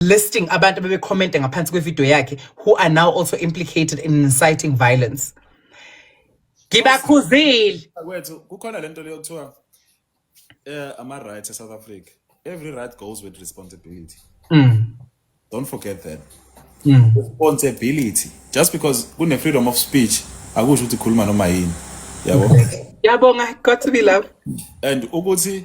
listing abantu abebecommente ngaphansi kwevideo yakhe who are now also implicated in inciting violence ngibakhuzile kwethu kukhona lento leyo kuthiwa eh ama rights eSouth Africa every right goes with responsibility mm. don't forget that mm. responsibility just because kune freedom of speech akusho ukuthi khuluma noma yini yabo yabonga got to be love and ukuthi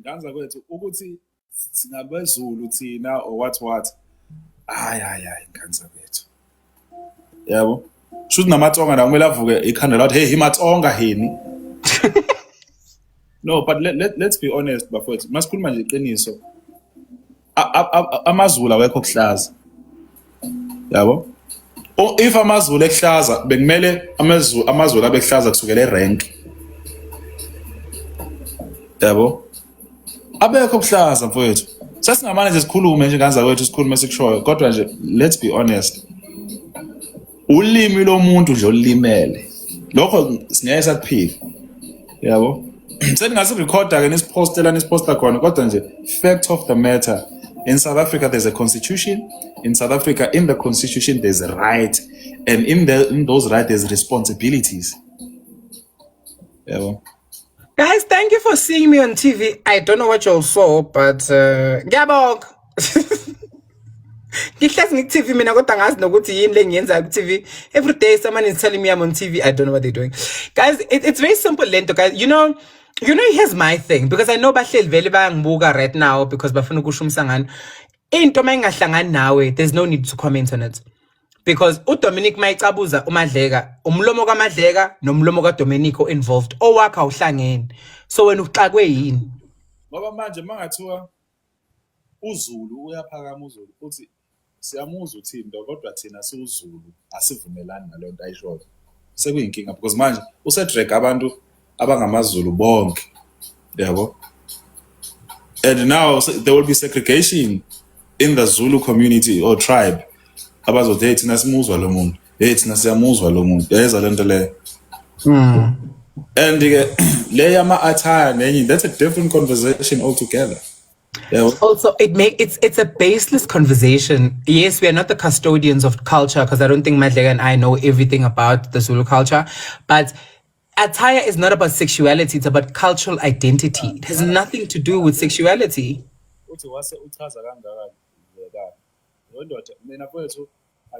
Nganza kwethu ukuthi singabezulu thina or what what hayi hayi hayi nganza kwethu yabo shuthi namatsonga nawo kumele avuke ikhanda lathi hey himatsonga hini no but let, let, let's be honest bafowethu masikhuluma nje iqiniso amazulu awekho kuhlaza yabo if amazulu ekuhlaza bekumele amazulu amazulu abekuhlaza kusukela erank yabo abekho kuhlaza mfowethu sesingamane nje sikhulume nje kanza kwethu sikhulume sikushoyo kodwa nje let's be honest ulimi lomuntu nje olulimele lokho singeke sakuphika yabo seningasirikhoda ke nisipostela nisiposta khona kodwa nje fact of the matter in south africa there's a constitution in south africa in the constitution there's a right and in, the, in those right there's responsibilities yabo yeah, well. Guys, thank you for seeing me on TV. I don't know what you all saw, but uh, ngiyabonga. Ngihlezi ngi-TV mina kodwa ngazi nokuthi yini lengiyenzayo ku-TV. Every day someone is telling me I'm on TV. I don't know what they're doing. Guys, it, it's very simple lento guys. You know, you know here's my thing because I know bahleli vele bayangibuka right now because bafuna ukusho umsangano. Into uma ingahlangani nawe, there's no need to comment on it. because uDominic mayicabuza uMadleka umlomo kaMadleka nomlomo kaDominic involved owakha uhlangene so wena uxakwe yini ngoba manje mangathiwa uZulu uyaphakama uZulu futhi siyamuzwa uThimba kodwa thina siwuZulu asivumelani nalento ayishoyo sekuyinkinga because manje usedrag abantu abangamaZulu bonke yabo and now there will be segregation in the Zulu community or tribe abazothi hey thina simuzwa lo muntu hey thina siyamuzwa lo muntu yayeza le nto leyo hmm. and ke le yama-attire nenye that's a different conversation altogether yeah. Also, it make it's it's a baseless conversation. Yes, we are not the custodians of culture because I don't think Madlega and I know everything about the Zulu culture, but Attire is not about sexuality, it's about cultural identity. It has nothing to do with sexuality. uthi wase uchaza kangaka ngekani lo ndoda mina kwethu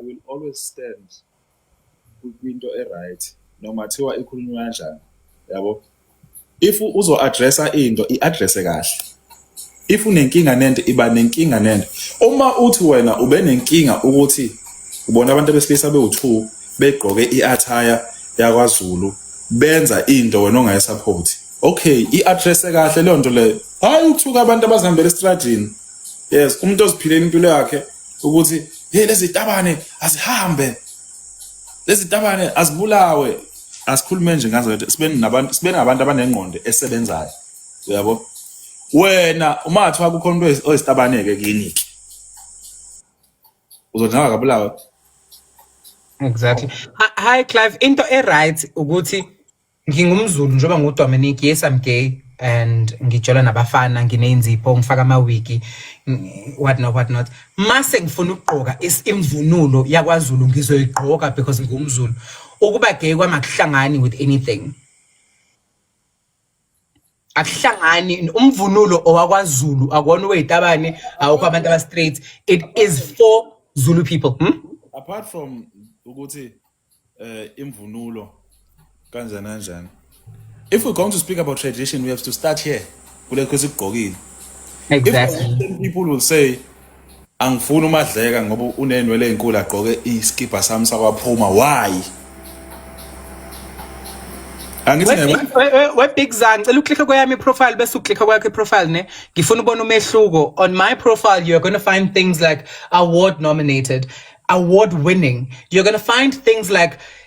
i will always stand kwi- kwinto e-right noma thiwa ikhulunywa kanjani yabo if uzo-addressa into i-addresse kahle if unenkinga nento iba nenkinga nento uma uthi wena ube nenkinga ukuthi ubona abantu besilisa bewu2 begqoke iattire yakwaZulu benza into wena ongayisupport okay iaddress kahle leyo nto leyo hayi uthuka abantu abazihambela estradini yes umuntu oziphilela impilo yakhe ukuthi hey lezi tabane azihambe lezi tabane azibulawe asikhulume nje ngazo sibe nabantu sibe nabantu abanengqondo esebenzayo uyabo wena umathi wakho khona into oyisitabaneke kini ke uzodlanga kabulawa exactly hi clive into eright ukuthi ngingumzulu njengoba ngudominic yes i'm gay and ngijola nabafana ngineyinzipho ngifaka amawiki what not what not mase ngifuna ukugqoka imvunulo yakwazulu ngizoyigqoka because ngumzulu ukuba gay kwamakuhlangani with anything akuhlangani umvunulo owakwaZulu akona oweyitabane awukho abantu aba straight it is for Zulu people hmm? apart from ukuthi eh imvunulo kanjani kanjani if we're going to speak about tradition we have to start here kulekho esigqokile exactly. if people will say Angifuni umadleka ngoba unenwele ezinkulu agqoke iskibha sami sakwaphuma why angithi webig zan cela uklikhe kweyami profile bese uklikhe kwakhe profile ne ngifuna ubona umehluko on my profile you are going to find things like award nominated award winning you're going to find things like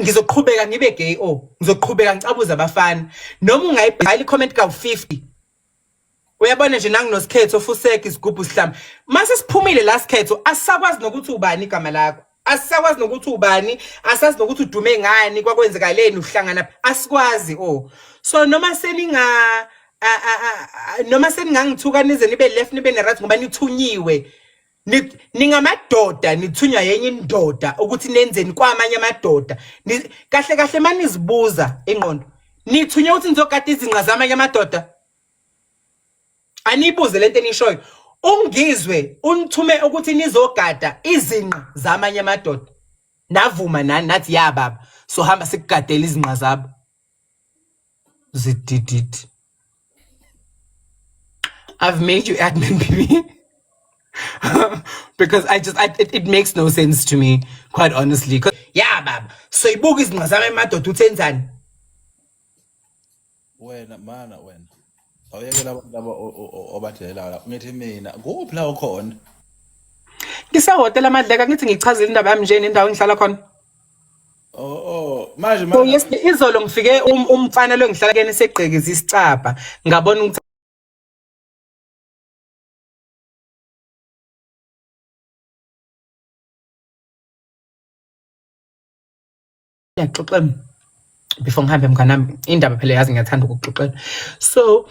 ngizoqhubeka ngibe gay o oh, ngizoqhubeka ngicabuza abafana noma ungayibhala i-comment kawu-50 uyabona nje nanginosikhetho fuseke isigubhu sihlama mase siphumile la sikhetho asisakwazi nokuthi ubani igama lakho asisakwazi nokuthi ubani asazi nokuthi udume ngani kwakwenzekaleni uhlangana asikwazi o oh. so noma seninga noma seningangithuka nize nibe left nibe ne-right ngoba nithunyiwe ningamadoda nithunywa yenye indoda ukuthi nenzeni kwamanye amadoda kahle kahle manizibuza ingqondo nithunywa ukuthi nizogada izinqa zamanye amadoda aniyibuze lento enishoyo ungizwe unithume ukuthi nizogada izinqa zamanye amadoda navuma nani nathi ya baba sohamba sikugadela izinqa zabo zidididi I've made you admin baby because I just I, it, it makes no sense to me quite honestly because yeah baba soyibuka izinqa zami emadoda uthenzani wena mana wena awuyekela abantu laba obadelela la ngithi mina kuphi la ukhona ngisehotela amadleka ngithi ngichazile indaba yami nje nendawo engihlala khona Oh oh manje manje. Oh yes izolo ngifike um, umfana lo ngihlala kene segqekeza isicabha ngabona ukuthi yaxoxela before ngihambe mnganami indaba phela yazi ngiyathanda ukuxoxela so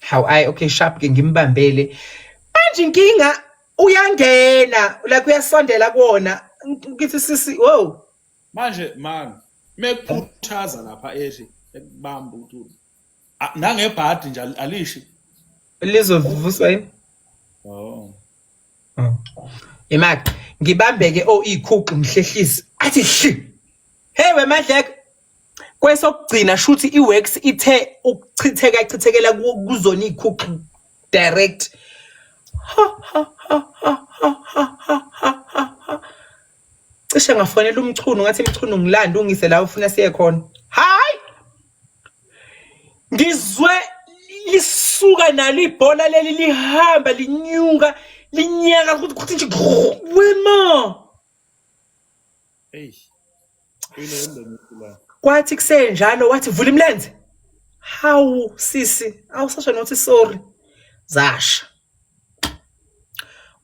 How I okay sharp ke ngimbambele. Manje inkinga uyangena la kuyasondela kuona ngithi sisi wow. Manje man mekuphuthaza lapha ethi ekubamba ukuthi nangebhadi nje alishi lizovuswa yini? Oh. Oh. Imaki ngibambeke o oh, ikhuqu mhlehlisi athi shi. Hey wemadleko kwesokugcina shuthi iworks ithe ukuchitheka chithekela kuzona ikhuxi direct cishe ngafonela umchunu ngathi mchunu ngilanda ungise la ufuna siye khona hayi ngizwe lisuka nalo ibhola leli lihamba linyuka linyaka ukuthi nje wema eish kwathi kusenjalo wathi vula imilenze hawu sisi awusasho nothi sorry zasha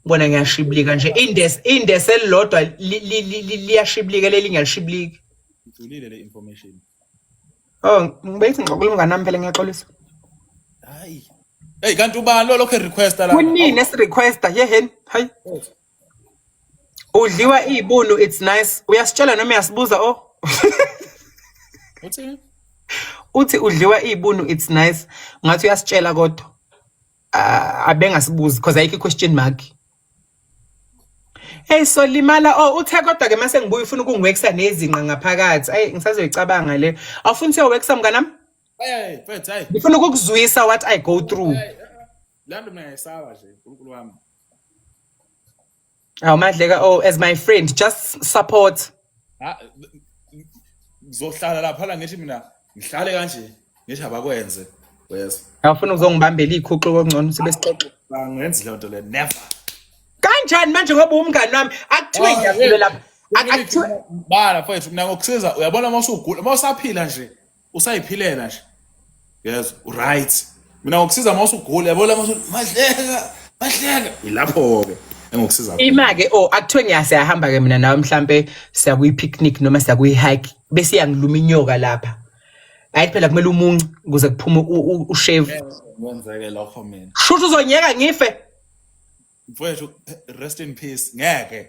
bona ngiyashibilika nje indes indes elilodwa liyashibilika leli ngiyashibilika ngithulile le information oh ngibethi ngixoxela umngane nami phela ngiyaxolisa hayi hey kanti ubani lo lokho request la kunini esi requesta yeheni hayi Udliwa izibunu it's nice. Uyasitshela noma uyasibuza o? Oh. Uthini? Uthi udliwa izibunu it's nice. Ngathi uyasitshela kodwa. Ah, abengasibuzi because ayikho question mark. Hey so limala oh uthe kodwa ke mase ngibuye ufuna ukungiwekisa nezinqa ngaphakathi. Ay ngisazoyicabanga le. Awufuni siyowekisa mnganami? Hey, hey, hey. Ngifuna ukukuzwisa what I go through. Hey, hey. laa nto mna yayisaba nje nkulunkulu wam awu madleka oh as my friend just support Ha- ngizohlala laphana ngithi mina ngihlale kanje ngithi abakwenze yes awufuna ukuzongibambela iy'khuxu kongcono sibe sixoxe bangenzi leyo nto le never kanjani manje ngoba umngani wami akuthiwe Oh, ngiyakule lapha Ak- akuthiwe bala mfowethu mina ngokusiza uyabona uma usugula uma usaphila nje usayiphilela nje yes right mina ngokusiza uma usugula yabo la mahleka mahleka ilapho ke engokusiza ima ke oh akuthiwe ngiyase yahamba ke mina nawe mhlambe siya kuyi picnic noma siya kuyi hike bese yangiluma inyoka lapha hayi phela kumele umuncu ukuze kuphume ushave wenzeke lokho mina shuthu uzonyeka ngife mfowethu rest in peace ngeke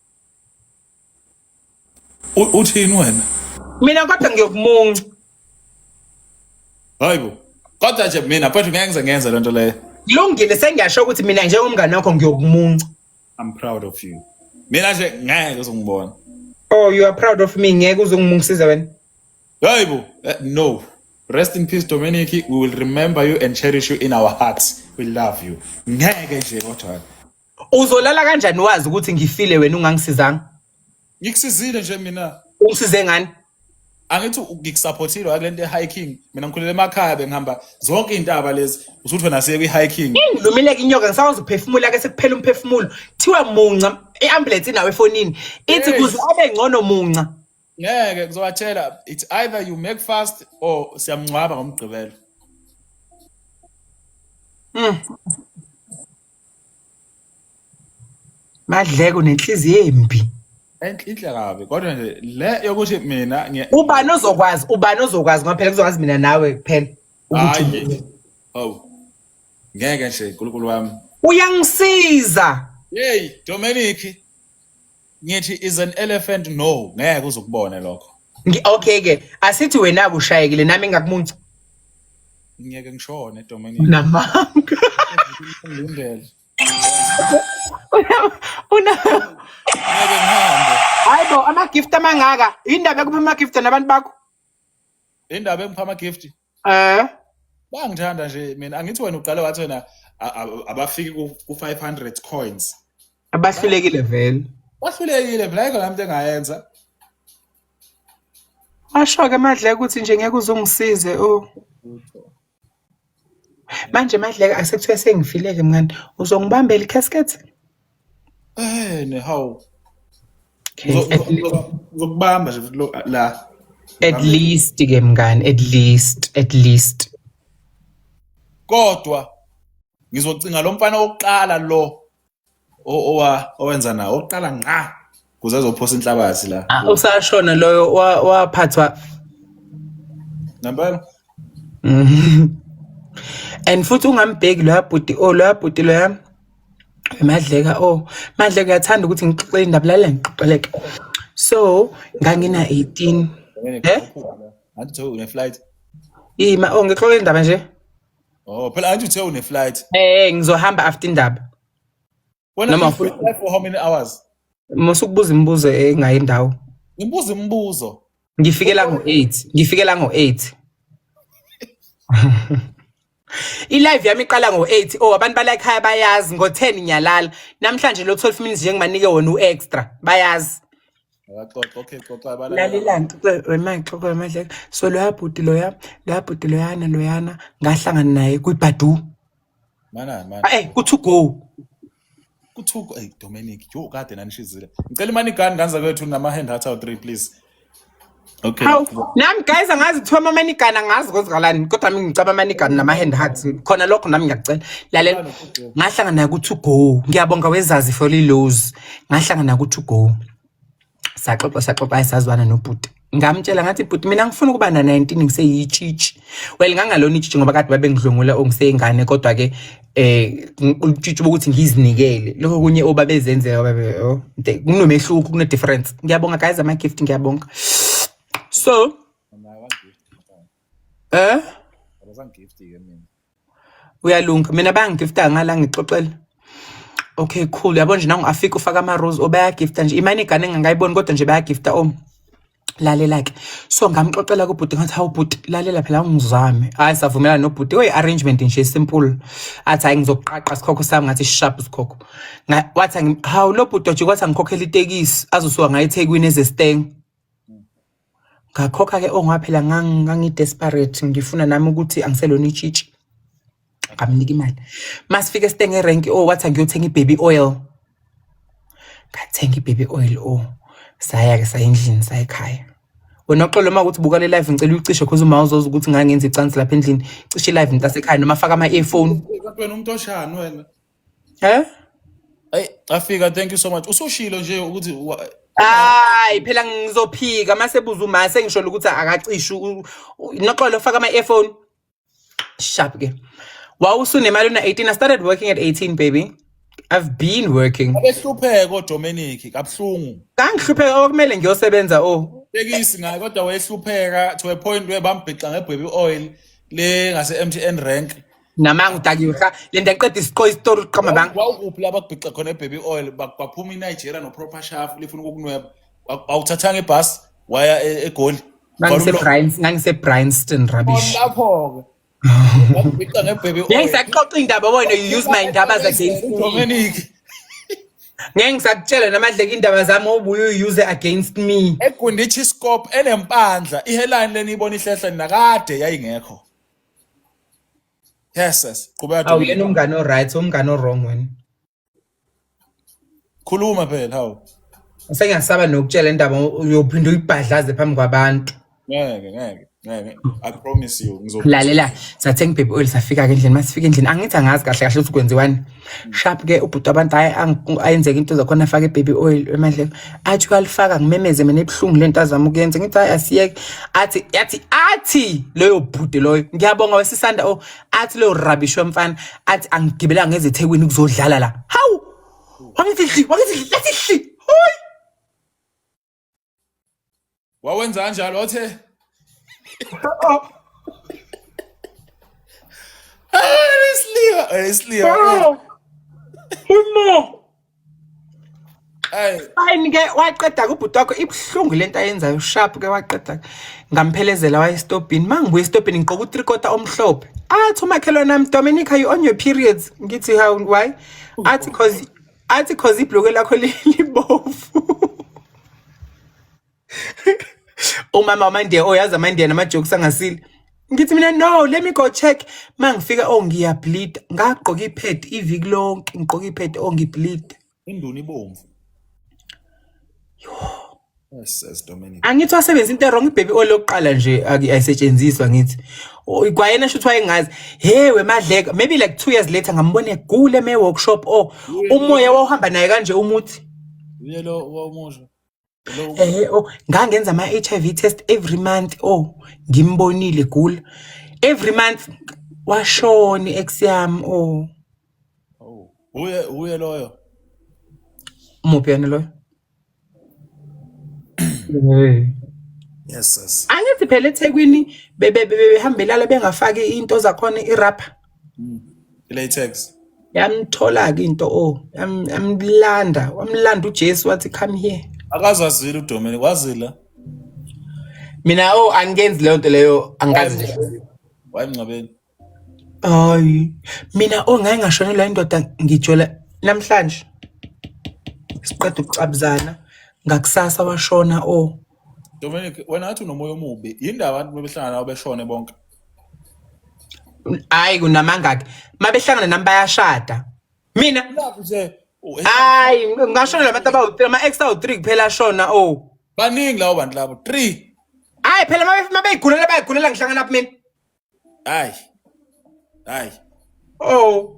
U- uthini wena mina kodwa ngiyokumunca hayi bo kodwa nje mina mfethu ngeke ngize ngenze le nto leyo kulungile sengiyasho ukuthi mina njengomngane wakho ngiyokumunca i'm proud of you mina nje ngeke uzongibona oh you are proud of me ngeke uzongimungisiza wena hayi bo Eh, no rest in peace dominic we will remember you and cherish you in our hearts we love you ngeke nje kodwa uzolala kanjani wazi ukuthi ngifile wena ungangisizanga ngikusizile nje mina ungisize ngani angithi ngikusupportile akule nto e-hiking mina ngikhulele emakhaya bengihamba zonke iy'ntaba lezi usuthi wena siye kwi-hiking ngilumile ke inyoka ngisakwazi ukuphefumula ke sekuphela umphefumulo kuthiwa munca i-ambulensi inawo efonini ithi kuze abe ngcono munca ngeke kuzowathela it's either you make fast or siyamngcwaba ngomgqibelo Mm. Madleko nenhliziyo embi. Enhle inhle kabi kodwa nje le yokuthi mina ngiye Ubani ozokwazi? Ubani ozokwazi ngoba phela kuzokwazi mina nawe kuphela. Ukuthi hayi. Oh. Ngeke nje uNkulunkulu wami. uyangisiza. Hey Dominic ngithi is an elephant no ngeke uzokubone lokho Ngi- okay ke asithi wena kushayekile nami ngakumunca ngiyeke ngishone Dominic namanga ngilindele una ngeke ngihambe hayi bo ama-gift amangaka yindaba ekuphuma ama-gift nabantu bakho indaba engipha ama gift Eh bangithanda nje mina angithi wena uqale wathi wena a- a- abafiki ku ku 500 coins. Abahlulekile vele. Wahlulekile mina ayikho lami into engayenza. Asho ke madleke ukuthi nje ngeke uzungisize o. Manje madleke asekuthiwa sengifileke mngani. Uzongibambela i-casket? Eh ne how. Ngizokubamba nje futhi la. At least ke mngani, at least, at least. Kodwa ngizocinga lo mfana wokuqala lo owa owenza nawo oqala ngqa kuze azophosa inhlabathi la Ah, usashona loyo wa- waphathwa ngempela and futhi ungambheki loya bhuti o loya bhuti loya madleka o madleka uyathanda ukuthi ngixoxele indaba lalela ngixoxeleke so ngangina 18 Eh? anti uthe une-flight ima o ngixoxele indaba nje oh phela anti uthe une-flight eh ngizohamba after indaba Wena Noma you funa- live for how many hours? Musukubuza imibuzo engayi ndawo. Ngibuza imibuzo. Ngifikela ngo-8. Ngifikela ngo-8. I-live yami iqala ngo-8. Oh, abantu bala ekhaya bayazi ngo-10 ngiyalala. Namhlanje lo 12 minutes nje ngibanike wona u-extra. Bayazi. Akaxoxa, okay, xoxa bala. Lalelani wemaxo kwemadleka. So loya bhuti loya, loya bhuti loyana loyana ngahlangana naye kwibhadu. Mana mana. Hey, ku to go. Ku to go. Hey, Dominic, yo kade nanishizile. Ngicela imani gani nganza kwethu nama hand heart out 3 please. Okay. Haw, nami guys angazi kuthiwa ama manigana ngazi kwenzakalani kodwa mina ngicaba manigana nama hand hearts khona lokho nami ngiyacela lalela ngahlangana naye ku to go ngiyabonga wezazi for lilos ngahlangana naye ku to go saxoxa saxoxa ayisazwana nobhuti ngamtshela ngathi bhuti mina ngifuna ukuba na-19 ngiseyitshitshi well ngangalona itshitshi ngoba kade babengidlwengula ongiseyingane kodwa-ke eh utshitshi bokuthi ngizinikele lokho kunye obabezenzeka babe oh, kunomehluko kune-difference ngiyabonga guys ama-gift ngiyabonga so eh uyalunga mina bangigifta ngala ngixoxela okay cool yabo nje nangu afika ufaka ama rose obayagifta nje imani igane engangayiboni kodwa nje bayagifta om lalela ke so ngamxoxela kubhuti ngathi hawu bhuti lalela phela ungizame hayi savumelana nobhuti oyi arrangement nje simple athi hayi ngizokuqaqa sikhokho sami ngathi sharp sikhokho wathi hawu lo bhuti wathi ngikhokhela itekisi azosuka ngayo eThekwini ezesteng ngakhokha-ke ongoba phela ngangi-desperate ngifuna nami ukuthi angiselona itshitshi ngamnika imali masifike sitenge erenki o oh, wathi angiyothenga i-baby oil ngathenga i-baby oil o oh. saya-ke saya endlini sayikhaya wena oxolo uma ukuthi buka le live ngicela uyicishe cause uma uzoza ukuthi ngangenza icansi lapha endlini cishe i-live mntasekhaya noma faka ama-earphone umuntu oshani wena He? Hey, afika thank you so much. Usushilo nje ukuthi wa- Hayi phela ngizophika mase buza uma sengisholo ukuthi akacishi u- u- noxolo faka ama earphone. Sharp ke. Wawusunemali una 18 I started working at 18 baby. I've been working. abehlupheka oDominic kabuhlungu. Kangihlupheka okumele ngiyosebenza oh. Tekisi ngaye kodwa wayehlupheka to a point where bambhixa ngebhebi oil le ngase MTN rank namanga udakiwe cha le nto eqeda isiqo isitori uqamba banga wawukuphi la bakubhixa khona ebaby oil ba- baphuma inigeria noproper shafu lifuna ukukunweba Wa- wawuthathanga ibhasi waya e- egoli ngangisebrins ngangisebrinston rubbish lapho-ke wakubhixa ngebaby ngeke oil ngisaxoxa indaba wena you use my ndaba against me udominic ngeke ngisakutshela namadleka indaba zami obuye uyi-use against me egundichi scope enempandla iheline leni ibona ihlehla nakade yayingekho yes yes qhubeka Awu Dominic. yena umngane oright, umngane owrong wena. khuluma phela hawu Sengiyasaba nokutshela indaba uyophinde uyibhadlaze phambi kwabantu. ngeke ngeke ngeke i promise you ngizo Lalela, sathenga ibaby oil safika ke endlini, masifika endlini angithi angazi kahle kahle ukuthi kwenziwani. sharp ke ubhuti abantu hayi ayenzeka into zakhona afake ibaby oil emadleko athi uyalifaka ngimemeze mina ebuhlungu lento azama ukuyenza ngithi hayi asiyeke athi yathi athi leyo bhuti loyo ngiyabonga wesisanda o oh, athi leyo rubbish wemfana athi angigibela ngeze ethekwini kuzodlala la hawu wangithi hli wangithi hli lathi hli hoyi wawenza kanjalo othe Isliwa, eh, isliwa. Bro. Umo. Ay. Fine ke waqeda kubhuti wakho ibuhlungu lento ayenzayo sharp ke waqeda ngamphelezela waye stopini mangibuye stopini ngiqoka u3 quarter omhlophe athi umakhelwana nami Dominic are you on your periods ngithi how why athi cause athi cause ibhloke lakho libovu umama wamandiya oyazi oh, amandiya namajokes angasile ngithi mina no let me go check uma ngifika oh ngiyableed ngagqoka ipad iviki lonke ngigqoka ipad oh ngibleed induni ibomvu angithi wasebenza into erong ibhebi olokuqala nje ayisetshenziswa ngithi kwayena shuthi wayengazi hey wemadleka maybe like two years later ngambona egule me-workshop o oh, umoya wawuhamba naye kanje umuthi ehe o oh, ngangenza ama-h i v test every month o oh, ngimbonile gula every month washona i-ex yami o uye loyo muphi yena loyo Yes sis. Angithi phela eThekwini bebe behambela la bengafaki into zakhona irapha. Mm. Latex. Yamthola ke into o yamlanda wamlanda uJesu wathi come here. Akazazile uDomini wazila. Mina o angenzi leyo nto leyo angazi. Wayemngcwabeni. Hayi mina ongaye ngashonelwa indoda ngijola namhlanje siqeda ukucabuzana ngakusasa washona o Dominic wena ngathi unomoya omubi yini ndaba abantu bebehlangana nawe beshone bonke hayi kunamangaki mabehlangana nami bayashada mina hayi ngashona labantu abawu-three ama-ex awu-three kuphela ashona o oh. baningi lawo bantu labo three hayi phela mabeyigulela bayigulela ngihlangana phi mina hayi hayi o oh.